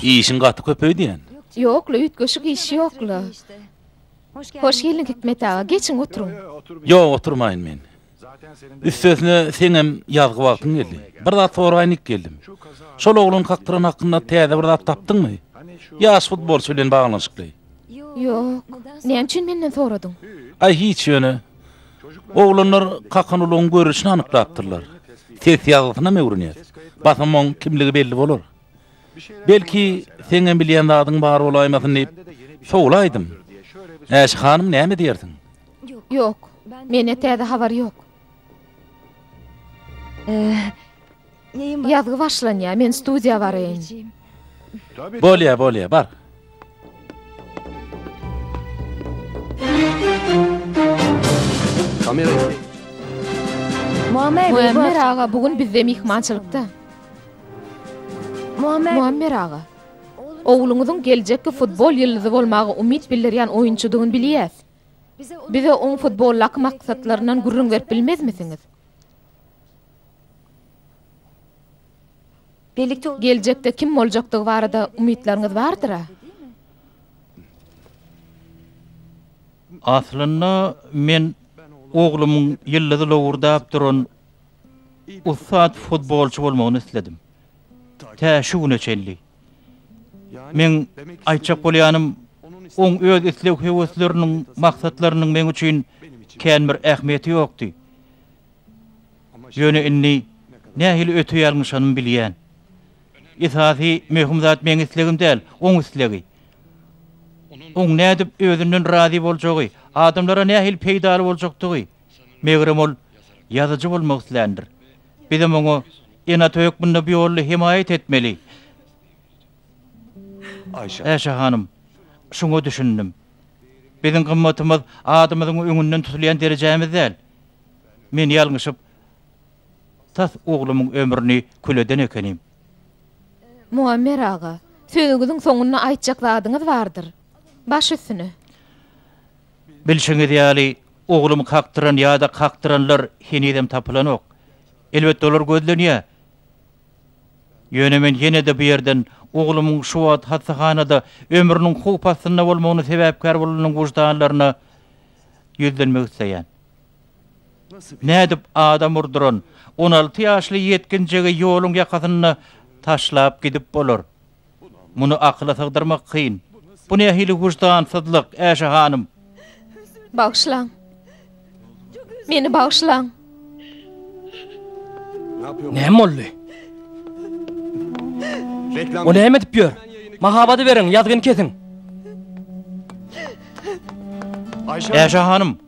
Işiň gaty köpeýdýän. Ýok-la, üýtgeşik
iş ýok-la. Hoş geldiň, Hikmet aga. Geçiň, oturyň. Ýok, oturmaýyn
men. Üstesine seňem ýazgy wagtyň geldi. Bir zat soraýynyk geldim. Şol oglan kakdyran hakynda täze bir zat tapdyňmy? Ýaş futbolçy bilen baglanyşykly.
Ýok. Näme üçin menden soradyň? Aý hiç ýöne.
Oglanlar Kakanulyň görnüşini anyklapdyrlar. Ses ýazgysynam öwrenýär. Basamagyň kimligi belli bolar. Belki seňem bilýän zadyň bar bolaýmasyn diýip sowlaýdym. Äşi hanym näme diýersiň? Ýok,
mende täze habar ýok. Ýazgy başlanýar, men studiýa baraýyn. Bolýar, bolýar,
bar.
Muammer aga bu gün bizde myhmançylykda. Muammer aga. Ogluňyzyň geljekki futbol ýyldyzy bolmaga umyt bildirýän oýunçydygyny bilýäs. Bize oň futboldaky maksatlaryndan gürrüň berip bilmezmisiňiz? Geljekde kim boljakdygy barada umytlaryňyz bardyr-a?
Aslynda men oglumyň ýyldyzy lowurdap duran ussat futbolçy bolmagyny isledim. Tä şu güne çenli. Meň aýtjak bolýanym, oň öz isleg-höwesleriniň, maksatlarynyň meň üçin kän bir ähmiýeti ýokdy. Ýöne indi nähili öte ýalňyşanymy bilýän. Esasy, möhüm zat meň islegim däl, oň islegi. Oň nädip özünden razy boljagy, adamlara nähili peýdaly boljakdygy. Megerem, ol ýazyjy bolmak isländir. Bizem oňa ene-ata hökmünde bu ýolda hemaýat etmeli. Äşe hanym, şuňa düşündim. Biziň gymmatymyz adymyzyň öňünden tutulýan derejämiz däl. Men ýalňyşyp, tas oglumyň ömrüni kül eden ekenim.
Muammer aga, sözüňiziň soňunda aýtjak zadyňyz bardyr. Baş üstüne.
Bilşiňiz ýaly, oglumy kakdyran ýa-da kakdyranlar henizem tapylanok. Elbetde, olar gözlenýär. Ýöne men ýene-de bu ýerden oglumyň şu wagt hassahanada ömrüniň howp astynda bolmagyna sebäpkär bolanyň wyždanlaryna ýüzlenmek isleýän. Nädip adam urduran on alty ýaşly ýetginjegi ýoluň ýakasynda taşlap gidip bolar? Muny akyla sygdyrmak kyn. Bu nähili wyždansyzlyk, Äşe hanym?
Bagyşlaň. Meni bagyşlaň.
Näme boldy? O näme edip ýör? Mahabady beriň, ýazgyny kesiň!
Äşe hanym!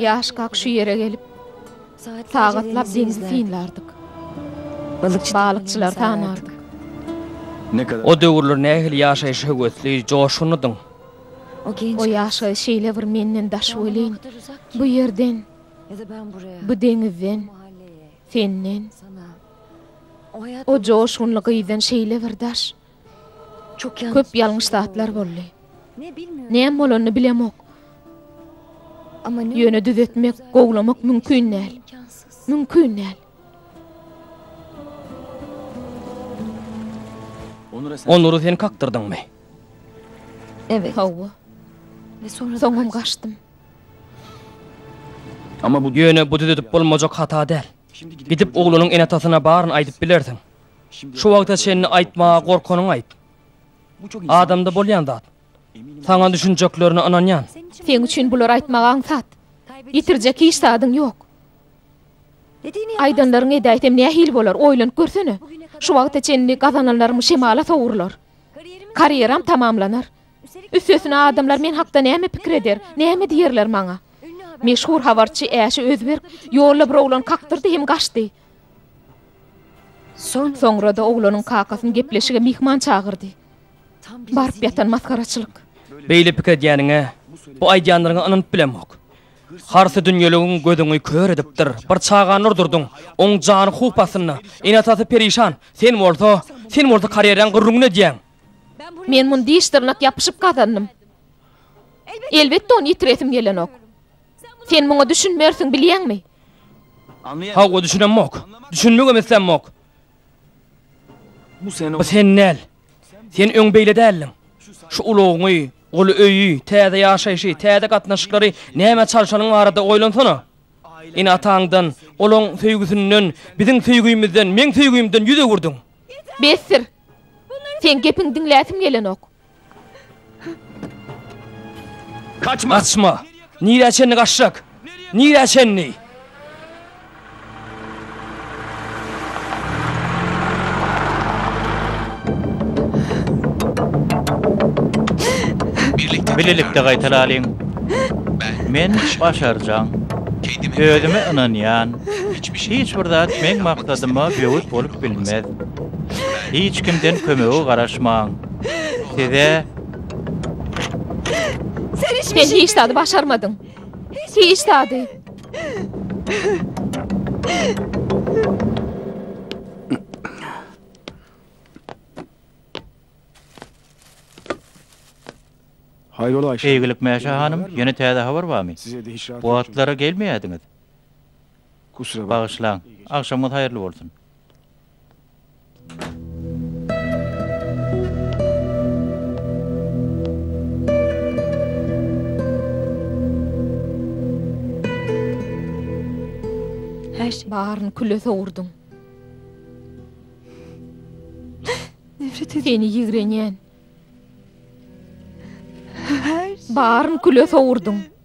Ýaşkak şu ýere gelip, sagatlap deňzi synlardyk. Balykçylary tanardyk.
O döwürler nähili ýaşaýyşa höwesli, joşgunlydyň?
O ýaşaýyş şeýle bir menden daş welin, bu ýerden, bu deňizden, senden, o joşgunly gyzdan şeýle bir daş. Köp ýalňyş zatlar boldy. Näme bolanyny bilemok. Ýöne düzetmek, gowlamak mümkin däl. Mümkin däl.
Onury sen kakdyrdyňmy?
Hawa.
Soňam gaçdym.
Ýöne bu düzedip bolmajak
hata däl. Gidip oglanyň ene-atasyna baryny aýdyp bilersiň. Şu wagta çenli aýtmaga gorkanyňy aýt. Adamda bolýan zat. Saňa düşünjeklerine ynanýan. Seň üçin bulary
aýtmak aňsat. Ýitirjek hiç zadyň ýok. Aýdanlaryňy edäýsem nähili bolar, oýlanyp görsene. Şu wagta çenli gazananlarym şemala sowrular. Karýeram tamamlanar. Üstesine adamlar men hakda näme pikir eder, näme diýerler maňa. Meşhur habarçy Äşi Özberk ýolda bir oglan kakdyrdy hem gaçdy. Soňra-da oglanyň kakasyny gepleşige myhman çagyrdy. Baryp ýatan masgaraçylyk. Beýle pikir
edýäniňe, bu aýdýanlaryňa ynanyp bilemok. Harsy dünýeligiň gözüňi kör edipdir. Bir çagany urdurdyň. Oň jany howp astynda. Ene-atasy perişan. Sen bolsa, sen bolsa
karýeraň
gürrüňini
edýäň. Men muny
diş-dyrnak
ýapyşyp
gazandym.
Elbetde ony ýitiresim gelenok. Sen muňa düşünmersiň, bilýäňmi?
Hawa, düşünemok. Düşünmegem islämok.
Bu sen däl.
Sen öň beýle däldiň. Şu ulagyňy, guly öýi, täze ýaşaýşy, täze gatnaşyklary nämä çalşanyň barada oýlansana. Ene-ataňdan, olaň söýgüsinden, biziň söýgimizden, meň söýgimden ýüz öwürdiň. Besdir!
Seň gepiňi diňläsim gelenok.
Kaçma! Kaçma!
Nirä çenli kaçjak? Nirä çenli?
Birlikde gaýtalalyň. Men başarjaň. Özüme ynanýan. Hiç bir zat meň maksadyma böwet bolup bilmez. Hiç kimden kömege garaşmaň. Size
Sen hiçbir Sen şey hiç zady başarmadyň. Hiç zady.
Hayır ola Ayşe. Eýgilik Mäşe hanym,
ýene täze habar barmy? Size de hiç rahat Bu atlara
gelmeýärdiňiz. Kusura bak. Bagyşlaň. Agşamyňyz
haýyrly bolsun.
Häş, baryny küle sowurdyň. Nefret edip. Seni ýigrenýän. Häş. Baryny küle sowurdyň.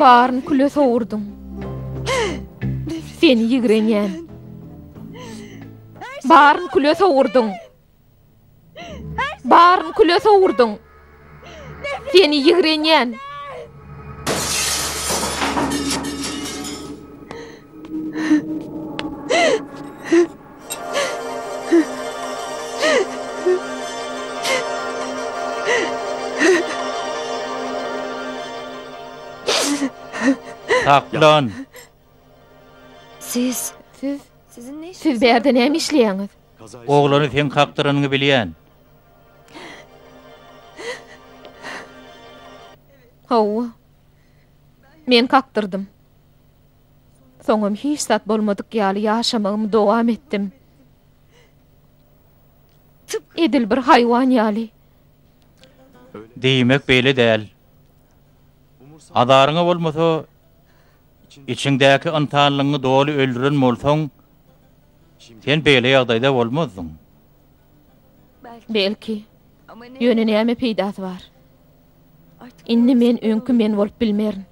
Baryny küle sowurdyň.
Seni ýigrenýän. Baryny küle sowurdyň. Baryny küle sowurdyň. Seni ýigrenýän.
Saklan! Siz...
Siz... Siz
bu
ýerde näme işleýäňiz?
Oglany seň
kakdyranyňy bilýän.
Hawa. Men kakdyrdym. Soňam hiç zat bolmadyk ýaly ýaşamagymy dowam etdim. Edil bir haýwan ýaly. Diýmek
beýle däl. Azaryňa bolmasa, içiňdäki ynsanlygyňy doly öldüren bolsaň, sen beýle ýagdaýda bolmazdyň.
Belki. Ýöne
näme peýdasy
bar?
Indi men öňki
men bolup bilmerin.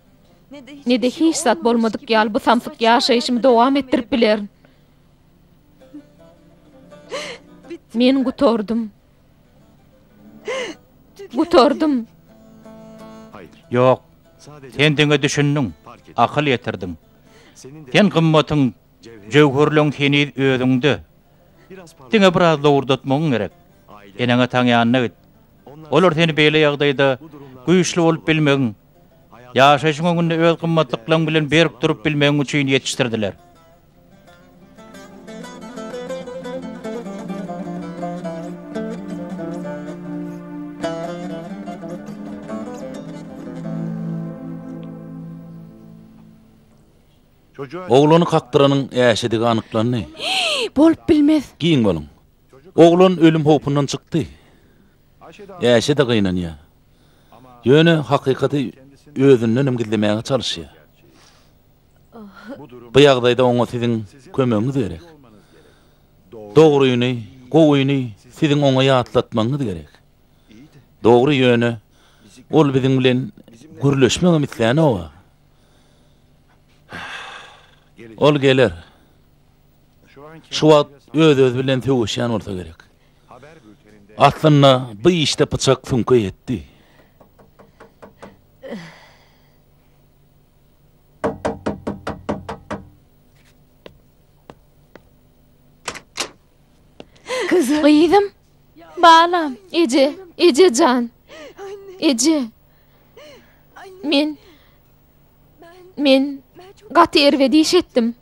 Ne-de hiç zat bolmadyk ýaly bu samsyk ýaşaýşymy dowam etdirip bilerin. Men gutardym. Gutardym.
Ýok.
Sen diňe
düşündiň,
akyl
ýetirdiň.
Sen
gymmatyň
Jöwherleň heniz özüňde.
Diňe biraz lowurdatmagyň
gerek. Eneň-ataň
ýanyna git.
Olar seni beýle ýagdaýda güýçli bolup bilmegiň, ýaşaýşyň öňünde öz gymmatlyklaryň bilen berk durup bilmegiň üçin ýetişdirdiler.
Oglany kakdyranyň äşedigi anyklandy. Bolup
bilmez! Giň boluň.
Oglan ölüm howpundan çykdy. Äşe-de gynanýar. Ýöne hakykaty özündenem gizlemäge çalyşýar. Bu ýagdaýda oňa siziň kömegiňiz gerek. Dogryny, gowyny siziň oňa ýatlatmagyňyz gerek. Dogry, ýöne ol biziň bilen gürleşmegem islänok-a. Ol geler. Şu wagt öz-özi bilen sögüşýän bolsa gerek. Aslynda bu işde pyçak süňke ýetdi.
Gyzym. Balam. Eje,
eje jan. Eje. Men men gaty erbet iş etdim.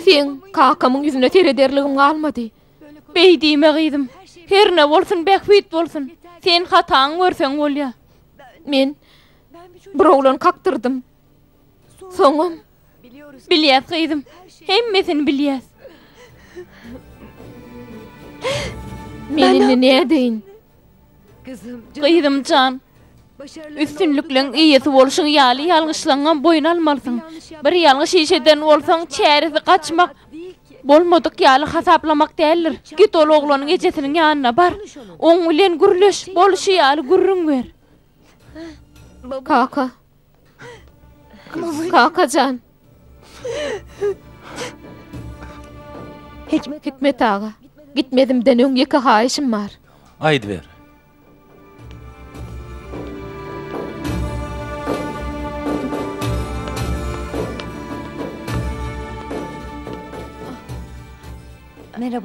Seň kakamyň ýüzüne serederligim galmady. Beý diýme
gyzym. Herne bolsun bähbit bolsun. Sen hataňy görseň bolýa. Men
bir oglan kakdyrdym. Soňam,
Bilýäs gyzym, hemmesini bilýäs.
Men indi nädeýin?
Gyzym jan, üstünlikleň eýesi bolşuň ýaly ýalňyşlaňňam boýun almalysyň. Bir ýalňyş iş eden bolsaň, çäresi gaçmak, bolmadyk ýaly hasaplamak däldir. Git ol oglanyň ejesiniň ýanyna bar, oň bilen gürleş, bolşy ýaly gürrüň ber. Kaka.
Kakajan. Hikmet aga, gitmezimden öň ýeke haýyşym bar. Aýdyber.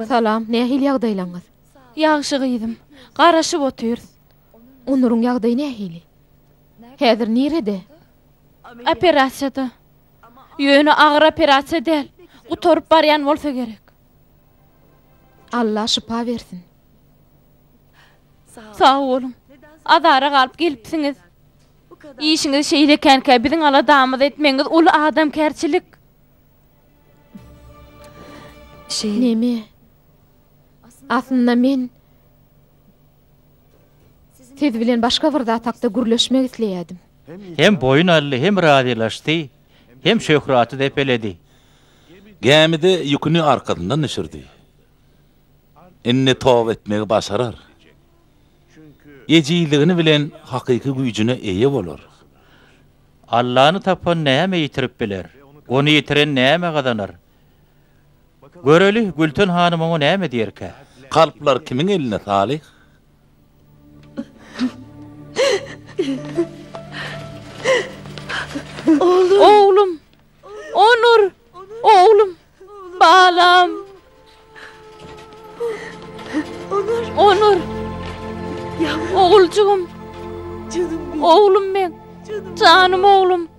Salam, nähili
ýagdaýlaňyz? Ýagşy gyzym.
Garaşyp otyrys. Onuryň
ýagdaýy nähili? Häzir nirede?
Operasiýada. Ýöne agyr operasiýa däl. Gutaryp barýan bolsa gerek. Alla
şypa bersin.
Sag boluň. Azara galyp gelipsiňiz. Işiňiz şeýle ekenkä, biziň aladamyzy etmegiňiz uly adamkärçilik.
Neme? Aslynda men Siz bilen başga bir zat hakda gürleşmek isleýärdim. Hem boýun
aldy, hem razylaşdy, hem şöhraty depeledi.
Gämide ýüküni arkasyndan düşürdi. Indi toba etmegi başarar. Ejizligini bilen hakyky güýjüne eýe bolar.
Allany tapan näme ýitirip biler? Ony ýitiren näme gazanar? Göreli, Gülten hanym oňa näme diýerkä? Kalplar kimiň
elinde, Salyh?
Oglum! Onur! Oglum! Balam! Onur! Oguljygym! Oglum meň! Janym oglum!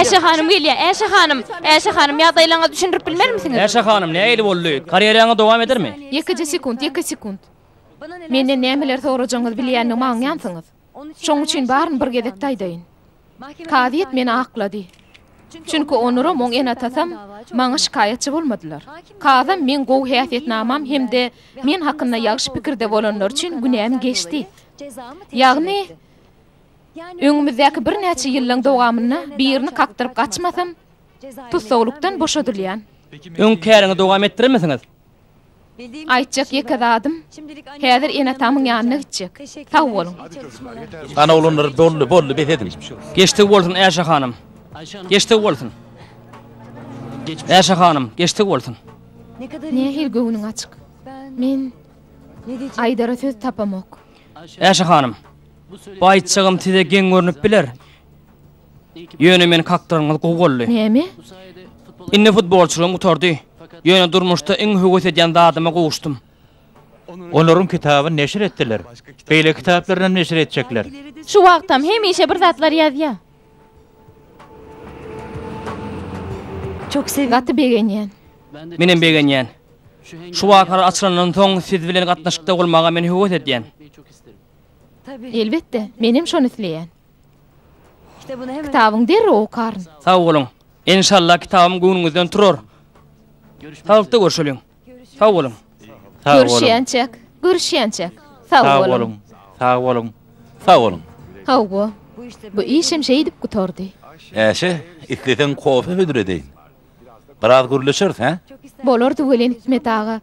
Äşe hanym gelýär, Äşe hanym! Äşe hanym, ýagdaýlaryňyzy düşündirip bilmermisiňiz? Äşe hanym, nähili boldy?
Karýeraňyz dowam edermi? Ýekeje sekunt, ýeke
sekunt. Menden nämeleri sorajagyňyzy bilýändigimi aňýansyňyz. Şoň üçin baryny bir gezekde aýdaýyn. Kazyýet meni aklady. Çünki onuram, oň ene-atasam maňa şikaýatçy bolmadylar. Kazam meň gowy häsiýetnamam hem-de men hakynda ýagşy pikirde bolanlary üçin günäm geçdi. Ýagny, öňümizdäki birnäçe ýyllaň dowamynda birini kakdyryp gaçmasam, tussaglykdan boşadylýan. Öň käriňi
dowam etdiremisiňiz?
Aýtjak ýeke zadym, häzir ene-atamyň ýanyna gitjek. Sag boluň! Ana
oglanlar doldy, boldy, bes ediň! Geçdigi bolsun,
Äşe hanym! Geçdigi bolsun! Äşe hanym, geçdigi bolsun! Nähili
göwnüň açyk! Men aýdara söz tapamok. Äşe hanym!
Bu aýtjagym size geň görnüp biler, Ýöne meni kakdyranňyz gowy boldy. Näme?
Indi
futbolçylygym gutardy. Ýöne durmuşda iň höwes edýän zadyma gowuşdym.
Olaryň kitabyny neşir etdiler. Beýleki kitaplarynam neşir etjekler. Şu wagtam
hemişe bir zatlar ýazýa.
Gaty
begenýän. Menem
begenýän. Şu wakalar açylandan soň siz bilen gatnaşykda bolmaga men höwes edýän. Elbetde,
menem şony isleýän.
Kitabyňy derrew okaryn.
Sag boluň.
Enşalla kitabym göwnüňizden turar. Saglykda görşeliň. Sag boluň. Sag boluň. Görüşýänçäk.
Görüşýänçäk. Sag boluň. Sag boluň. Sag boluň.
Sag boluň.
Hawa.
Bu işem şeýdip
gutardy. Äşe,
isleseň
kofe
hödüredeýin.
Biraz gürleşeris, hä? Bolardy welin
Hikmet aga.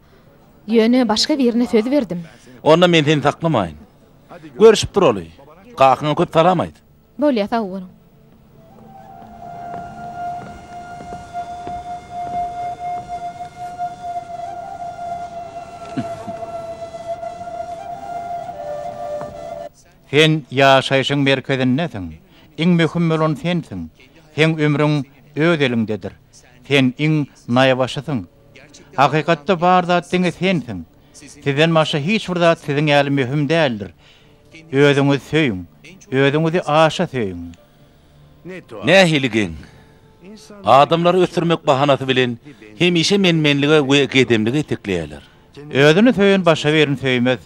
Ýöne başga birine söz berdim. Onda men seni
saklamaýyn. Görüşip duraly. Kakyňa köp salam aýt. Bolýa sag boluň.
Sen ýaşaýşyň merkezindesiň. Iň möhüm bolan sensiň. Seň ömrüň öz eliňdedir. Sen iň naýbaşysyň. Hakykatda bar zat diňe sensiň. Sizden başga hiç bir zat siziň ýaly möhüm däldir. Özüňizi söýüň. Özüňizi aşa söýüň.
Nähili geň! Adamlary ösdürmek bahanasy bilen hemişe men-menlige we gedemlige itekleýärler. Özüni söýen
başga birini söýmez.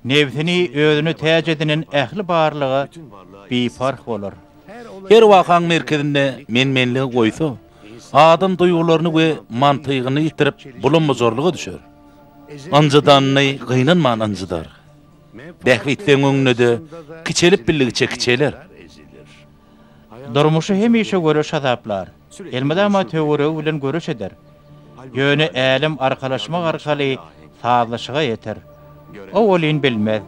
Nebsini özüne täç edinen ähli barlyga biparh bolar. Her wakaň
merkezinde men-menligi goýsa, adam duýgularyny we mantygyny ýitirip, bulam-bujarlyga düşer. Ynjydanyny gynanman ynjydar. Bähbitleň öňünde-de kiçelip bildigiçe kiçeler.
Durmuşy hemişe göreş hasaplar. Elmydama töweregi bilen göreş eder. Ýöne älem arkalaşmak arkaly sazlaşyga ýeter. Owalyn bilmez.